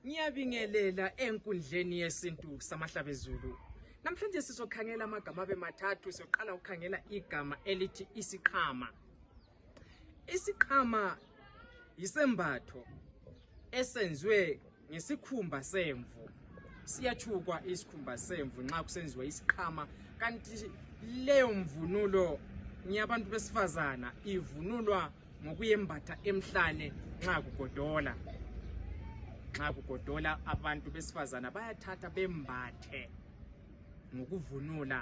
Ngiyabingelela enkundleni yesintu samahlabezulu. Namhlanje sizokhangela amagama abe mathathu. Sizoqala ukukhangela igama elithi isiqhama. Isiqhama yisembatho esenziwe ngesikhumba semvu. Siyathukwa isikhumba semvu nxa kusenziwa isiqhama kanti leyo mvunulo ngiyabantu besifazana ivunulwa ngokuyembatha emhlane nxa kugodola nxa kugodola abantu besifazana bayathatha bembathe ngokuvunula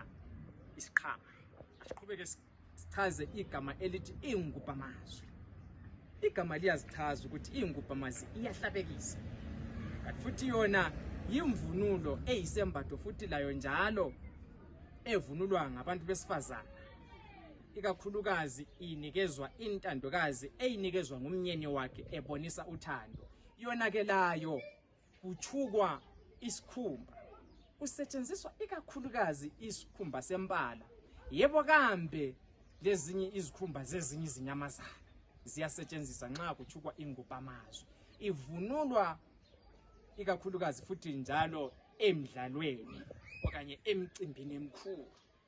isiqhama asiqhubeke sichaze igama elithi ingubhamazwi igama liyazichaza ukuthi ingubhamazwi iyahlabekisa kanti futhi yona yimvunulo eyisembatho futhi layo njalo evunulwa ngabantu besifazana ikakhulukazi inikezwa intandokazi eyinikezwa ngumnyeni wakhe ebonisa uthando yonakelayo kuthukwa isikhumba kusetshenziswa ikakhulukazi isikhumba sempala yebo kambe lezinye izikhumba zezinye izinyamazana ziyasetshenziswa nxa kuthukwa ingubhamazwe ivunulwa ikakhulukazi futhi njalo emdlalweni okanye emcimbini emkhulu